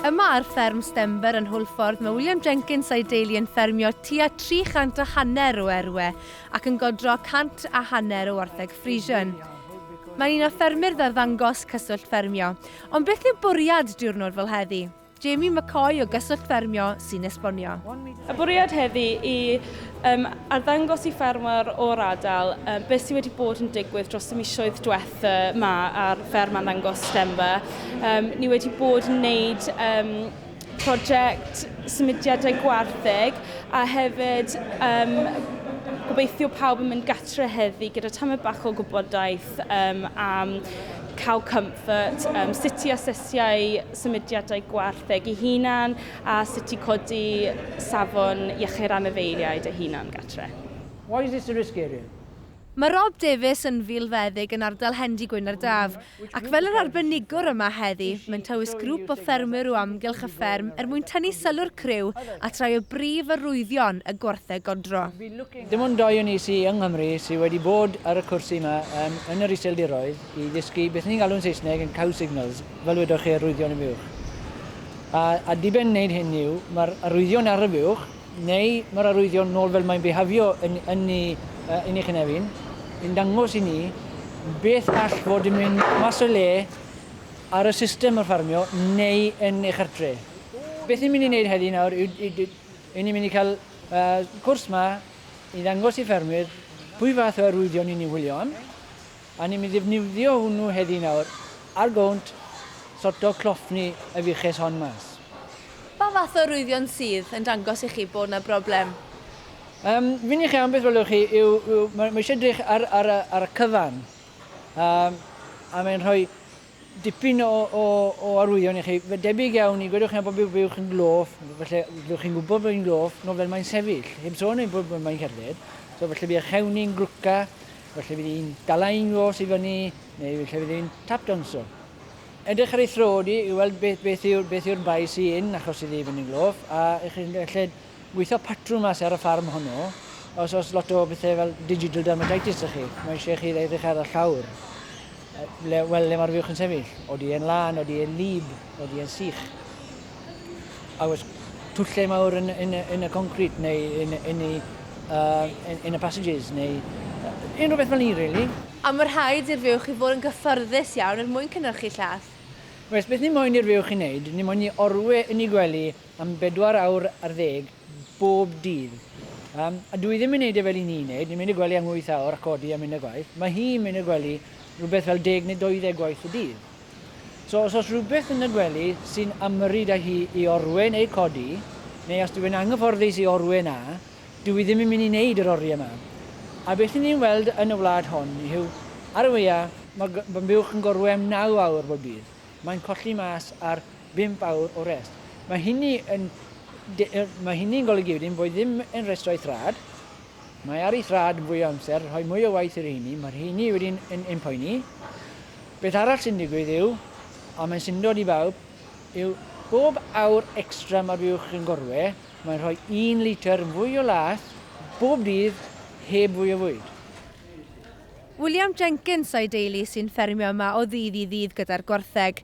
Yma ar fferm Stember yn Hwlffordd mae William Jenkins a'i deulu yn ffermio tua 300 a hanner o erwe ac yn godro 100 a hanner o wartheg Friesian. Mae'n un o ffermyr ddarddangos Cyswllt Ffermio. Ond beth yw bwriad diwrnod fel heddi? Jamie McCoy o Gyswllt Ffermio sy'n esbonio. Y bwriad heddi i Yym, arddangos i ffermwyr o'r ardal um, beth sydd wedi bod yn digwydd dros y misoedd diwetha ma ar fferm arddangos Stemba. Um, ni wedi bod yn wneud um, prosiect symudiadau gwartheg a hefyd um, gobeithio pawb yn mynd gatre heddi gyda tamau bach o gwybodaeth um, am cow comfort, um, sut i asesiau symudiadau gwartheg i hunan A sut i codi safon iechyd anifeiliaid a hunan-gartre. Why is this a risk area? Mae Rob Davies yn filfeddyg yn ardal Hendy Gwynardaf, ac fel yr arbenigwr yma heddi, mae'n tywys grŵp o ffermwyr o amgylch y fferm er mwyn tynnu sylw'r criw at rai o brif arwyddion y gwartheg godro. Dim ond dau o ni sy yng Nghymru sy wedi bod ar y cwrs yma yn yn yr Iseldiroedd i ddysgu beth ni'n galw'n Saesneg yn cow signals, fel wedoch chi, arwyddion am uwch. A ar diben wneud hyn yw, mae'r arwyddion ar y fuwch, neu mae'r arwyddion nôl fel mae'n bihafio yn, yn, ni, uh, yn ei chynefin, yn dangos i ni beth all fod yn mynd mas o le ar y system o'r ffarmio neu yn ei chartre. Beth ni'n mynd i wneud heddi nawr yw, yw, yw ni'n mynd i cael uh, cwrs ma i ddangos i ffermwyr pwy fath o arwyddion ni'n ei wylio am, A ni'n mynd i ddefnyddio hwnnw heddi nawr ar gownt sorto cloffni y fuches hon mas. Pa fath o rwyddion sydd yn dangos i chi bod 'na broblem? Yym, fi'n i chi am beth welwch chi yw, yw, mae, mae eisiau edrych ar, ar, y, ar y cyfan. Yym, a mae'n rhoi Dipyn o arwyddion i chi. Fe debyg iawn i, gwedwch chi am bod byw chi'n gloff, felly byddwch chi'n gwybod fod hi'n gloff, nofel mae'n sefyll, heb sôn ei bod mae'n cerdded, so felly bydd eich hewn ni'n glwca, felly bydd hi'n dala un os i fyny, neu felly bydd hi'n tap danso. Edrych ar ei throd hi i weld beth yw'r bai sy'n achos iddi fynd yn gloff, a chi'n gallu Gweithio patrwm mas ar y ffarm honno, os oes lot o bethau fel digital dermatitis da chi, mae eisiau chi edrych ar y llawr, le, wel, le mae'r fuwch yn sefyll. Odi e'n lân, odi e'n lib, odi e'n sych. A oes twllau mawr yn, yn, yn y concrit neu yn, yn, y, uh, yn, yn y passages neu uh, unrhyw beth fel ni, really. A mae rhaid i'r fuwch i fod yn gyffyrddus iawn er mwyn cynhyrchu llath. Oes, beth ni moyn i'r fuwch i wneud, ni moyn i orwe yn ei gwely am bedwar awr ar ddeg bob dydd. Yym, a dwi ddim yn neud e fel i ni neud, ni'n mynd i'r gwely am wyth awr a codi a mynd i'r gwaith, ma' hi'n mynd i'r gwely rwbeth fel deg neu doeddeg gwaith y dydd. So os o's rwbeth yn y gwely sy'n ymyrryd â hi i orwyn ei codi, neu os dyw e'n anghyfforddus i orwyn a, dyw hi ddim yn mynd i neud yr oriau 'ma. A beth 'yn ni'n weld yn y wlad hon yw, ar y wya, ma' g- ma' buwch yn gorwem naw awr bob dydd, mae'n colli mas ar Dim fawr o rest. Mae hynny yn mae hynny'n golygu wedyn bod ddim yn rhestrau thraed. Mae ar ei thraed yn fwy o amser, rhoi mwy o waith i'r rheini, mae'r rheini wedyn yn yn poeni. Beth arall sy'n digwydd yw, a mae'n syndod i bawb, yw bob awr extra mae'r fuwch yn gorwe, mae'n rhoi un litr fwy o laeth bob dydd heb fwy o fwyd. William Jenkins a'i deulu sy'n ffermio yma o ddydd i ddydd gyda'r gwartheg.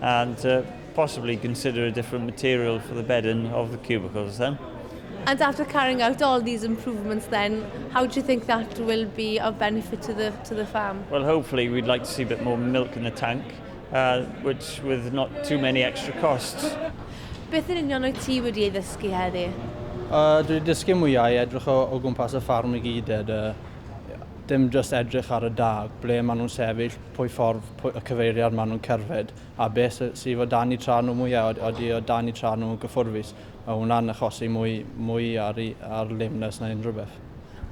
and uh, possibly consider a different material for the bedding of the cubicles then. And after carrying out all these improvements then, how do you think that will be of benefit to the, to the farm? Well, hopefully we'd like to see a bit more milk in the tank, uh, which with not too many extra costs. Beth yn union o'i ti wedi ei ddysgu heddi? Uh, dwi wedi dysgu mwyau edrych o, o gwmpas y ffarm i gyd, ed, uh, dim just edrych ar y da, ble maen nhw'n sefyll, pwy ffordd y cyfeiriad maen nhw'n cerdded a beth sy sydd o dan eu traed nhw mwya', od- odi o dan eu traed nhw yn gyffwrfus, mae hwnna'n achosi mwy mwy ar i- ar lameness na unrhyw beth.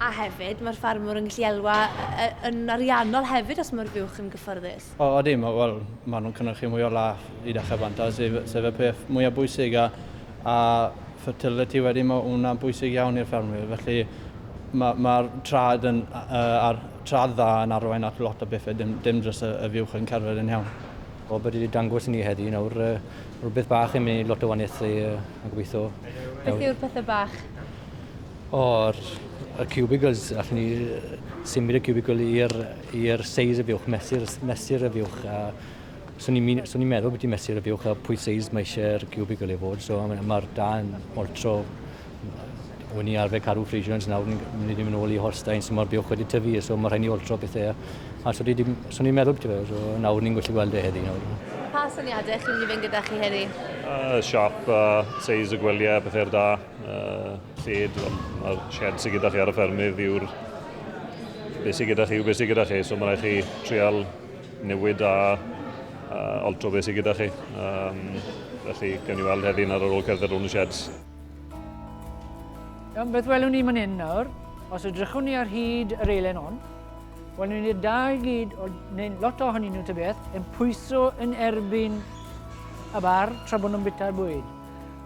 A hefyd, mae'r ffarmwr yn gallu elwa yy yy yn ariannol hefyd os mae'r buwch yn gyffyrddus. O odi, ma' wel, maen nhw'n cynhyrchu mwy o lath i dechrau bant a sef sef y peth mwya' bwysig a a fertility wedyn, ma' hwnna'n bwysig iawn i'r ffermwyr, felly ma' ma'r traed yn yy ar traed dda yn arwain at lot o bethe, dim dim jyst y y fuwch yn cerdded yn iawn. Wel be' dwi 'di dangos i ni heddi nawr yy rw beth bach yn myn' i lot o waniaethu yy a gobitho Beth yw'r pethe bach? O yr y cubicles allwn ni yy symud y cubicle i'r i'r seis y fuwch mesur y s- mesur y fuwch a swn i'n mi- swn i'n meddwl byti mesur y fuwch a pwy seis mae isie yr cubicle i fod so a ma' ma'r dân altro O'n i arfer caru Frisians, nawr ni'n mynd i ddim yn ôl i Holsteins, mae'r buwch wedi tyfu, so mae rhaid ni oltro pethau. A so ni'n meddwl beth yw, so nawr ni'n gallu gweld e heddi nawr. Pa syniadau chi'n mynd i fynd gyda chi heddi? Uh, siap, uh, seis y gwyliau, pethau'r da, uh, lled, mae'r shed sy'n gyda chi ar y ffermydd yw'r beth sy'n gyda chi yw beth sy'n gyda chi, so mae rhaid chi trial newid a uh, oltro beth sy'n gyda chi. Um, felly, gawn ni weld heddi'n ar ôl cerdded rhwng y sheds. Iawn, beth welwn ni man hyn nawr? Os ydrychwn ni ar hyd yr eilen hon, welwn ni'r dau gyd, o, neu lot ohonyn nhw tybeth, yn pwyso yn erbyn y bar tra bod nhw'n bita'r bwyd.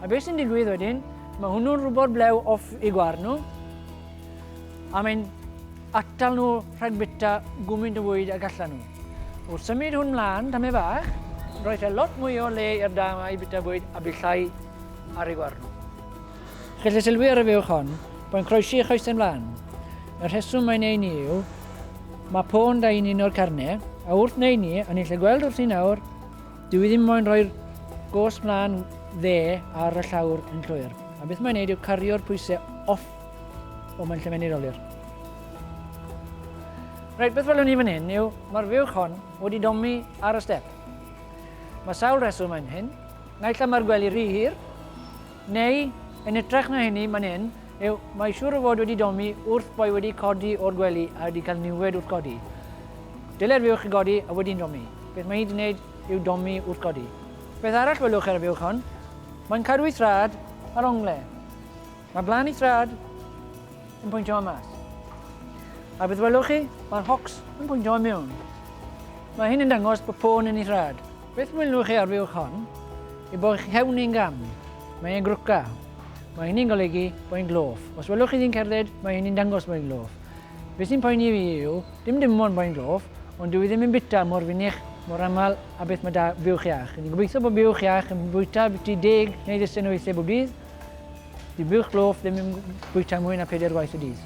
A beth sy'n digwydd wedyn, mae hwnnw'n rhywbeth blew off i gwar nhw, a mae'n atal nhw rhag bita gwmynt o fwyd a gallan nhw. Wrth symud hwn mlaen, tamau bach, roedd e lot mwy o le i'r da mae i bita bwyd a bydd llai ar ei warn. Gellir sylwi ar y fuwch hon bo'n croesi ei choesau mlaen. Y rheswm mae'n ei ni yw, mae pôn da i'n un o'r carne, a wrth neu ni, a ni'n lle gweld wrth ni nawr, dyw i ddim moyn rhoi'r gos mlaen dde ar y llawr yn llwyr. A beth mae'n neud yw cario'r pwysau off o mae'n lle mynd olir. Rhaid beth welwn ni fan hyn yw, mae'r fuwch hon wedi domi ar y step. Mae sawl rheswm yn hyn, Naill ai mae'r gwely rhy hir, neu, yn hytrach na hynny, man hyn, yw, mae siŵr o fod wedi domi wrth boi wedi codi o'r gwely a wedi cael niwed wrth godi. Dylai'r fuwch chi godi a wedi'n domi. Beth mae hi wedi gwneud yw domi wrth godi. Beth arall welwch ar y fuwch hon? Mae'n cadw ei thraed ar ongle. Mae Blaen y Traed yn pwyntio i mas. A beth welwch chi? Mae'r Hawks yn pwyntio i mewn. Mae hyn yn dangos bod pôn yn ei thrad. Beth welwch chi ar fuwch hon? I bod chi hewn i'n gam. Mae e'n grwca. Mae hynny'n golygu bod e'n gloff. Os welwch chi ddyn cerdded, mae hynny'n dangos bod e'n gloff. Beth sy'n poeni fi yw, dim dim ond bod e'n gloff, ond dwi ddim yn bita mor fynych, mor aml a beth mae da fuwch iach. Ni'n gobeithio bod buwch iach yn bwyta byti deg neu ddisen o weithiau bob dydd, Di bwch glof ddim yn bwyta mwy na peder gwaith y dydd.